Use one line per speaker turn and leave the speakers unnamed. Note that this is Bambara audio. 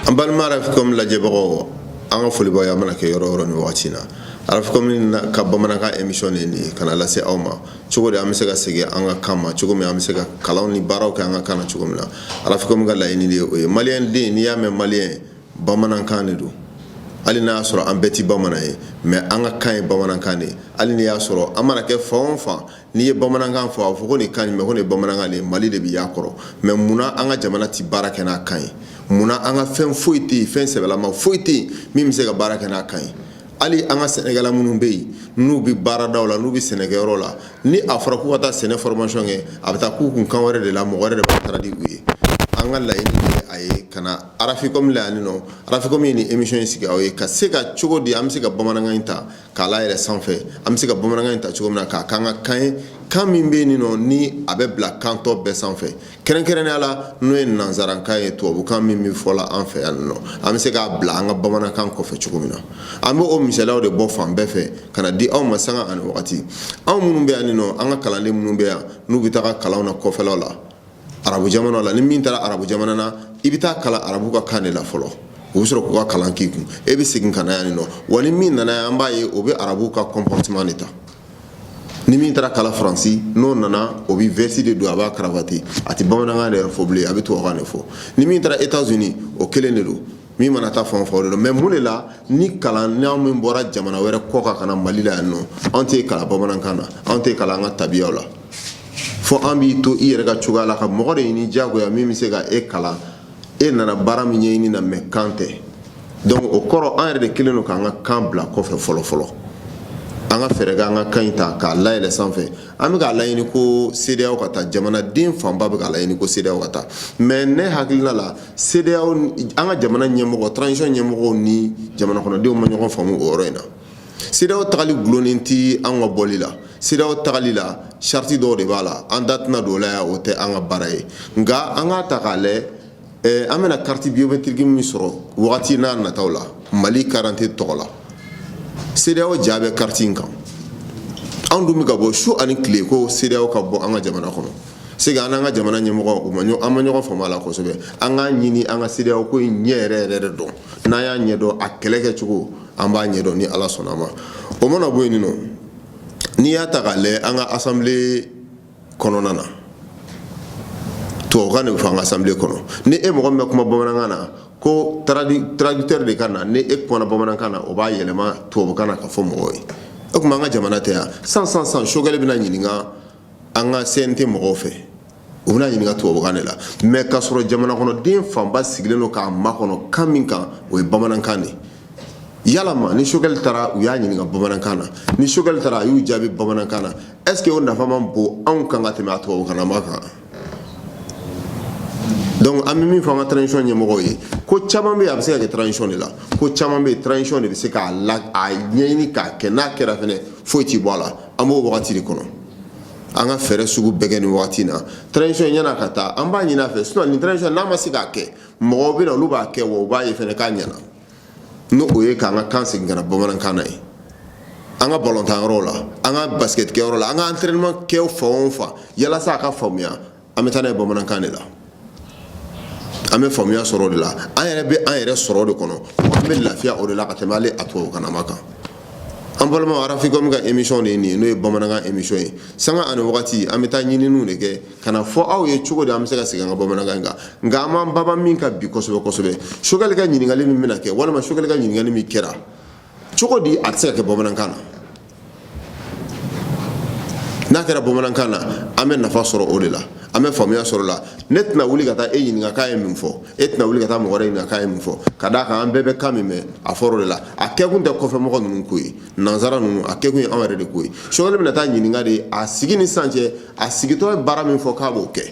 An balima Africom lajɛbagaw an ka foli b'aw ye aw mana kɛ yɔrɔ o yɔrɔ ni waati na Africom ka bamanankan emisiyɔn nin ka na lase aw ma cogo di an bɛ se ka segin an ka kan ma cogo min an bɛ se ka kalan ni baaraw kɛ an ka kan na cogo min na Africom ka laɲini o ye mali den n'i y'a mɛn mali ye bamanankan de don hali n'a y'a sɔrɔ an bɛɛ tɛ bamanan ye mɛ an ka kan ye bamanankan de ye hali n'i y'a sɔrɔ an mana kɛ fan o fan n'i ye bamanankan fɔ a b'a fɔ ko nin kan in mɛn ko nin ye bamanankan de ye maliden bɛ yan kɔrɔ mɛ munna an ka jamana tɛ baara kɛ n'a kan ye munna an ka fɛn foyi tɛ yen fɛn sɛbɛlama foyi tɛ yen min bɛ se ka baara kɛ n'a kan ye hali an ka sɛnɛkɛla minnu bɛ yen n'u bɛ baarada la n'u bɛ sɛnɛkɛyɔrɔ la ni a fɔra k'u ka taa sɛnɛ fɔrɔmasɔn kɛ a bɛ taa k'u kun kan wɛrɛ de la mɔgɔ wɛrɛ de b'a traduire u ye an ka laɲini a ye ka na Africom la yan nɔ Africom ye nin emisiyɔn in sigi aw ye ka se ka cogo di an bɛ se ka bamanankan in ta k'a layɛlɛ sanfɛ an bɛ se ka bamanankan in ta cogo min na k'a kɛ an ka kan ye kan min bɛ nin nɔ ni a bɛ bila kan tɔ bɛɛ sanfɛ kɛrɛnkɛrɛnya la n'o ye nansarakan ye tubabukan min bɛ fɔ la an fɛ yan nɔ an bɛ se k'a bila an ka bamanankan kɔfɛ cogo min na an bɛ o misaliyaw de bɔ fan bɛɛ fɛ ka na di aw ma sanga ani wagati anw minnu bɛ yan nɔ an ka kalanden minnu bɛ yan n'u bɛ taa kalanw na kɔfɛlaw la arabu jamana la ni min taara arabu jamana na i bɛ taa kalan arabu ka kan de la fɔlɔ o bɛ sɔrɔ k'u ka kalan k'i kun e bɛ segin ka na yan nɔ wa ni min nana an b'a ye o bɛ arabu ka kɔnpɔrɔteman de ta ni min taara kalan faransi n'o nana o bɛ vɛsi de don a b'a karavati a tɛ bamanankan yɛrɛ fɔ bilen a bɛ tubabukan de fɔ ni min taara etats unis o kelen de don min mana taa fan o fan o de don mɛ mun de la ni kalanna min bɔra jamana wɛrɛ kɔ kan ka na mali la yan nɔ an t'e kalan bamanankan na an t'e kalan an ka tabiyaw la fo an b'i to i yɛrɛ ka cogoya la ka mɔgɔ de ɲini diyagoya min bɛ se ka e kalan e nana baara min ɲɛɲini na mɛ kan tɛ donc o kɔrɔ an yɛrɛ de kelen don k'an ka kan bila kɔfɛ fɔlɔ fɔlɔ an ka fɛɛrɛ kɛ an ka kan in ta k'a layɛlɛ sanfɛ an bɛ k'a laɲini ko CEDEAO ka taa jamanaden fanba bɛ k'a laɲini ko CEDEAO ka taa mais ne hakilina la CEDEAO an ka jamana ɲɛmɔgɔ transition ɲɛmɔgɔw ni jamanakɔnɔdenw ma ɲɔgɔn faamu o yɔrɔ in na CEDEAO tagali dulonnen tɛ an ka bɔli la CEDEAO tagali la sariti dɔw de b'a la an da tɛna don la o tɛ an ka baara ye nka an k'a ta k'a lajɛ an bɛna kariti biyometiriki min sɔrɔ wagati nataw la mali karidante tɔgɔ la CEDEAO ja bɛ kariti in kan anw dun bɛ ka bɔ su ani tile ko CEDEAO ka bɔ an ka jamana kɔnɔ se an n'an ka jamana ɲɛmɔgɔ u ma an ma ɲɔgɔn faamu a la kosɛbɛ an k'a ɲini an ka CEDEAO ko ɲɛ yɛrɛ yɛrɛ de dɔn n'a y'a ɲɛdɔn a kɛlɛ kɛ cogo an b'a ɲɛdɔn ni ala sɔnna a ma o mana bɔ yen nɔ n'i y'a ta k'a lajɛ an ka assemblée kɔnɔna na tubabukan de bɛ fɔ an ka assemblée kɔnɔ ni e mɔgɔ min bɛ kuma bamanankan na ko traducteur de ka na ni e kumana bamanankan na o b'a yɛlɛma tubabukan na k'a fɔ mɔgɔw ye ikomi an ka jamana tɛ yan sisan sisan Choguel bɛna ɲininka an ka cnt mɔgɔw fɛ U bɛn'a ɲininka tubabukan de la mais k'a sɔrɔ jamana kɔnɔ den fanba sigilen don k'a makɔnɔ kan min kan o ye bamanankan de ye yalama ni Choguel taara u y'a ɲininka bamanankan na ni Choguel taara a y'u jaabi bamanankan na est ce que o nafa man bon anw kan ka tɛmɛ a tubabukanlama kan donc an bɛ min fɔ an ka transition ɲɛmɔgɔw ye ko caman bɛ yen a bɛ se ka kɛ transition de la ko caman bɛ yen transition de bɛ se k'a la a ɲɛɲini k'a kɛ n'a kɛra fɛnɛ foyi tɛ bɔ a la an b'o wagati de kɔnɔ an ka fɛɛrɛ sugu bɛɛ kɛ nin wagati na transition yann'a ka taa an b'a ɲini a fɛ sinon ni transition n'a ma se k'a kɛ mɔgɔw bɛ na olu b'a kɛ wa u b'a ye fana k'a ɲɛna n' o ye k'an ka kan segin ka na bamanankan na ye an ka balontan yɔrɔw la an ka basikɛtikɛ yɔrɔ la an ka entraînement kɛ fan o fan yalasa a ka faamuya an bɛ taa n'a ye bamanankan de la an bɛ faamuya sɔrɔ o de la an yɛrɛ bɛ an yɛrɛ sɔrɔ o de kɔnɔ an bɛ lafiya o de la ka tɛmɛ ale a tubabukanlama kan an balima arafikɔmi ka emisɔn de ye nin ye n'o ye bamanankan emisɔn ye sanga ani wagati an bɛ taa ɲininiw de kɛ ka na fɔ aw ye cogo di an bɛ se ka segin an ka bamanankan kan nka an b'an banban min kan bi kosɛbɛ kosɛbɛ Choguel ka ɲininkali min bɛna kɛ walima Choguel ka ɲininkali min kɛra cogo di a tɛ se ka kɛ bamanankan na n'a kɛra bamanankan na an bɛ nafa sɔrɔ o de la an bɛ faamuya sɔrɔ a la ne tɛna wuli ka taa e ɲininka k'a ye min fɔ e tɛna wuli ka taa mɔgɔ wɛrɛ ɲininka k'a ye min fɔ ka d'a kan an bɛɛ bɛ kan min mɛn a fɔra o de la a kɛkun tɛ kɔfɛ mɔgɔ ninnu ko ye nansara ninnu a kɛkun ye anw yɛrɛ de ko ye Choguel bɛna taa ɲininka de a sigi ni sisan cɛ a sigitɔ ye baara min fɔ k'a b'o kɛ